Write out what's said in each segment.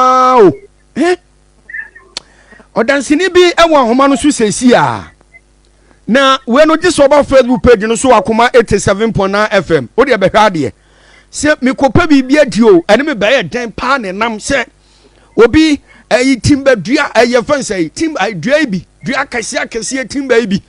paa o he ɔdanseni bi wɔ ahoma no so sɛsi a na wei no gye sɛ ɔba facebook page no so akoma 87.9 fm wo deɛ bɛhwɛ adeɛ sɛ mekɔpɛ biribi adi o ɛne me bɛyɛ dɛn paa ne nam sɛ obi ɛyi eh, timba dua ɛyɛ eh, fɛn sɛ timba eh, dua yi bi dua akɛseɛ akɛseɛ timba yi bi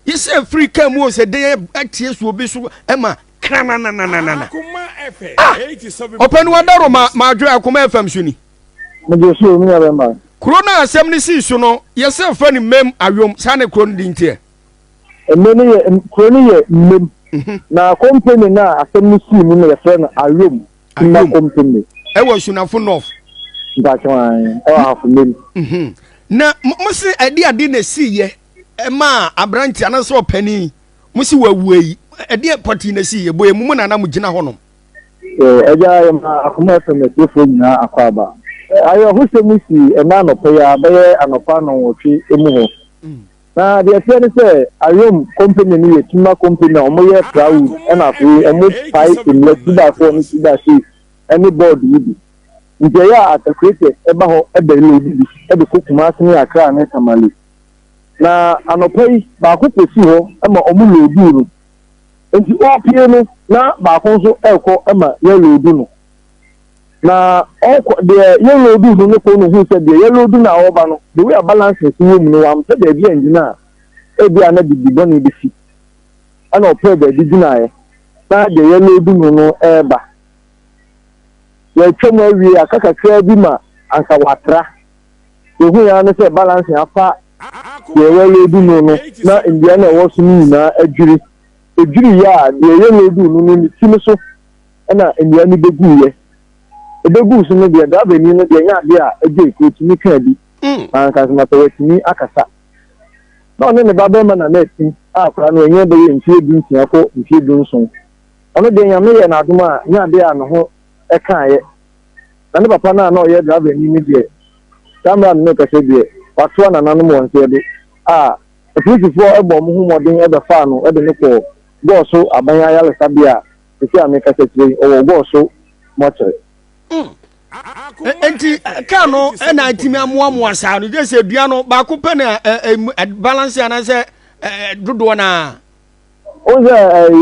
yɛ sɛ firi kaa mu o sɛ dɛn atie so obi so ɛma krananananana. Ah! Ɔpɛ no adaro ma madwene akoma FM so ni. Mede so omi abɛma. Kuro no a asɛm no sii so no, yɛsɛ fɛ no Mem Awom, saa ne kuro no din teɛ. Ɛmɛ no yɛ kuro no yɛ Mem. Mhm. Na kompani no a asɛm no sii mu no yɛfrɛ no Awom Timba Kompani. Ɛwɔ Sunafo North. Mpatwan, ɛwɔ ahafo Mem. Mhm. Na mo se ɛde ade na esii yɛ ɛmaa aberante anaasɛ ɔpanin Mo si wawu ayi, ɛdeɛ pɔtee na ɛsii, ɛbɔ emu mo na na mogyina hɔnom. So Agya yɛma Akoma FM atiefoɔ nyinaa akwaaba ayerɛhosɛm yi sii ɛnnɛ anɔpa yi ara bɛyɛ anɔpa nnɔnwɔtwe mu hɔ. Na deɛ ɛteɛ ne sɛ Ayom Company no yɛ Tuma Company a wɔyɛ plywood ɛna afei wɔpae nnua two by four ne two by six ne board yi bi. Nti ɛyɛ a Arthur Creator ba hɔ bɛloodi bi de kɔ Kumasi ne Accra ne Tamale. na anɔpa yi baako pɛ si hɔ ma ɔmo looduu no. Enti ɔɔpie no na baako nso ɛɛkɔ ma yɛɛloodu no. Na ɔɔkɔ deɛ yɛɛloodu no no kɔ no hui sɛ deɛ yɛɛloodu no a ɔɔba no the way a balancing si wɔ mu no wampɛ baabi angyina a ebi a na bibi bɔne besi. Ɛna ɔpɛɛ baabi gyinaeɛ na deɛ yɛɛloodu no no ɛɛba. Yɛɛtwa mu awie aka kakraa bi ma anka watra Yehui ara ne sɛ balanse afa deɛ wɔreloadu no no na nnua no a ɛwɔ so no nyinaa adwiri. Ɛdwiriiɛ a, deɛ yɛloaduu no no ne ti no so na nnua no bɛguiɛ. Ɛbɛguu so no deɛ drivani no deɛ ɛnyɛ adeɛ a ɛgyei ka ɔtumi kaa bi na anka sɛ na sɛ watumi akasa. Na ɔne ne babarima na na atim a akwadaa no ɛnyɛ bɛyɛ mfeɛ du nsia kɔ mfeɛ du nson. Ɔno deɛ Nyame yɛɛ no adom a ɛnyɛ adeɛ a ne ho ɛkaaeɛ. Na ne papa no a na ɔyɛ drabani no deɛ, saa mmerɛ a me rekasa yi deɛ, watoa nananom wɔn nteɛ do. A Apolisifoɔ bɔɔ wɔn ho mmɔden bɛfaa no de no kɔɔ Gɔɔso Aban Ayaresabea a seesei a merekasa kyerɛ yi, ɔwɔ Gɔɔso Mɔkyere. Mm. Enti kaa no na atumi amoamoa saa no, gye sɛ dua no baako pɛ na balance anaasɛ dodoɔ no a. Wohu sɛ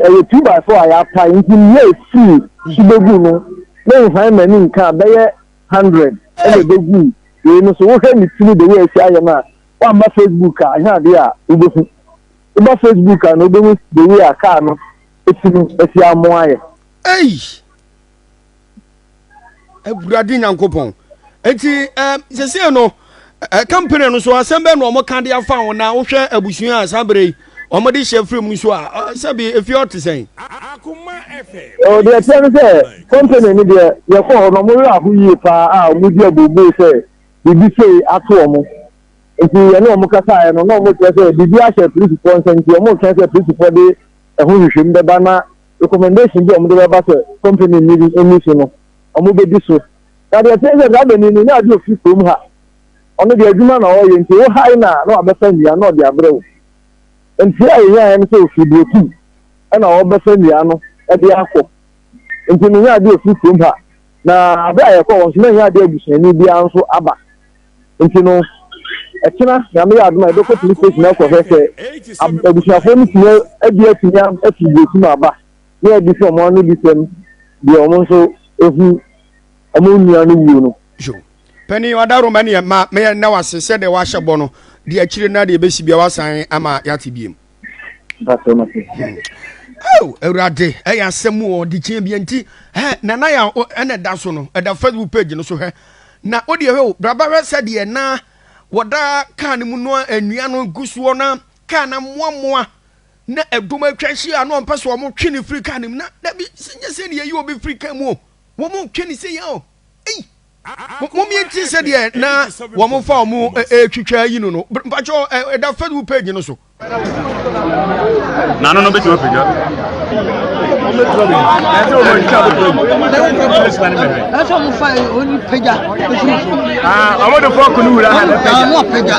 ɛyɛ two by four a yɛapae nti nea ɛfii so bɛgu no menhae m'ani nka a bɛyɛ hundred ɛna ɛbɛgu wei no so wohwɛ ne tiri de wei asi ayɛ no a woamma Facebook a ɛnyɛ adeɛ a wobɛhu woba Facebook a na wobɛhu de wei a kaa no ɛsi no asi amoa ayɛ. awurade nyankopɔn nti ɛɛ sɛsɛ no ɛɛ kampani no so asɛm bɛn na wɔn ka de afa ho na wohwɛ abusua a saa bere yi wɔn de hyɛ firi mu nso a ɛɛ sɛbi efi ɔte sɛn. ɛwɔ deɛ ɛkyerɛ no sɛ kampani no deɛ yɛkɔ hɔ no wɔn werɛ aho yie paa a wɔn di abubuo sɛ biribi sei ato wɔn nti yɛne wɔn kasaeɛ no na wɔn kyerɛ sɛ biribi ahyɛ polisifoɔ nsa nti wɔn twɛn sɛ polisifoɔ de ɛho nhwehwɛmu bɛba na. recommendation bi a wɔde bɛba sɛ company no bi nni so no, wɔbɛdi so. Na deɛ ɛteɛ sɛ saa bɛni no, nyɛ adeɛ ɔfiri kurom ha. Ɔno deɛ adwuma na ɔreyɛ nti wo hae no a na wabɛfa nnua na ɔde abrɛ wo. Nteɛ a yɛnyaeɛ no sɛ ɔfiri Burotum na ɔrebɛfa nnua no de akɔ. Nti no nyɛ adeɛ ɔfiri kurom ha. Na berɛ a yɛkɔɔ hɔ nso na ɛnyɛ adeɛ abusuani biara nso aba. nti no ɛkyena nyame yɛ adom a yɛbɛkɔ police station akɔhwɛ sɛ abusuafoɔ no tumi adi atumi afi burosi mu aba na yɛde sɛ ɔmo ano di sɛm deɛ ɔmo nso ehu ɔmo nua no wuo no. Pɛni ɔdaroma neɛ ma meyɛ nna wase sɛ deɛ wahyɛ bɔ no deɛ akyire na deɛ ebesi bia wasan ama yɛate biem. Oh, awurade ɛyɛ asɛm mu ɔde kyeɛ bia nti nana yɛ ɛna ɛda so no ɛda facebook page no so hwɛ na wodeɛ hwɛ o braba hwɛ sɛdeɛ na wɔda kaa no mu no nnua no gu soɔ na kaa no mmoammoa na ɛdom atwa ahyia na ɔmpɛ sɛ ɔmotwe ne firi kaa no mu na dabi sɛ nyɛ sɛ deɛ ɛyi obi firi kaa mu o wɔmotwe ne sɛ yɛ o momienti sɛdeɛ na wɔn fa wɔn twitwa yi no no mpakyɛ ɛda facebook page no so nano no bɛtumi apagya ɔmode fɔko no wura ha na pagya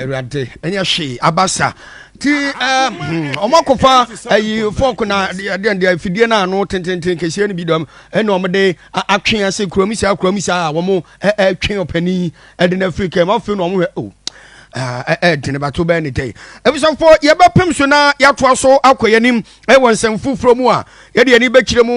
awurade ɛnyɛ hwee abasa ti ɔmo akɔfa ayi fɔk na ɛdeɛ ɛdeɛ fidie no ano tententen kɛseɛ no bi dɔm ɛna wɔn de atwe ase kurom saa kurom saa a wɔn ɛtwe ɔpanin ɛde na afiri kɛm afei na wɔn hwɛ o ɛdene bato bɛn ne tɛ ɛbisafo yɛbɛpem so na yɛatoa so akɔ yɛn anim ɛwɔ nsɛm foforɔ mu a yɛde yɛn ani bɛkyerɛ mu.